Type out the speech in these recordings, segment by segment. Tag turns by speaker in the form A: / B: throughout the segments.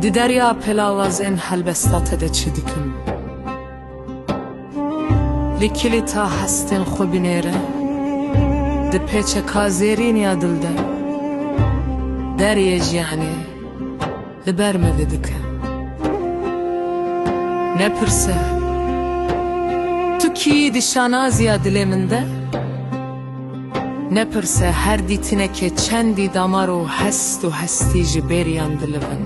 A: Di derya pelawazên helbesta te de çi dikim? Li kilîta hestên xwe binêre Di pêçeka zêrîniya dil de Deryê jiyanê Li ber me vedike. Nepirse, tu kî yî di şanaziya dilê min de? Nepirse, her dîtinekê çendî damar û hest û hestî ji bêriyan dilivin?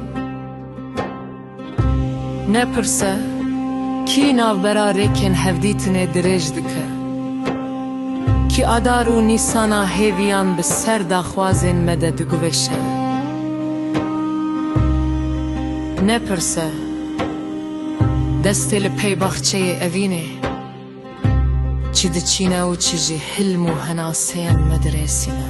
A: Nepirse, kî navbera rêkên hevdîtinê dirêj dike? Ki adar û nîsana hêviyan bi ser daxwazên me de diguvêşe. Nepirse, destê li pey baxçeyê evînê, çi diçîne û çi jî hilm û henaseyên me dirêsîne.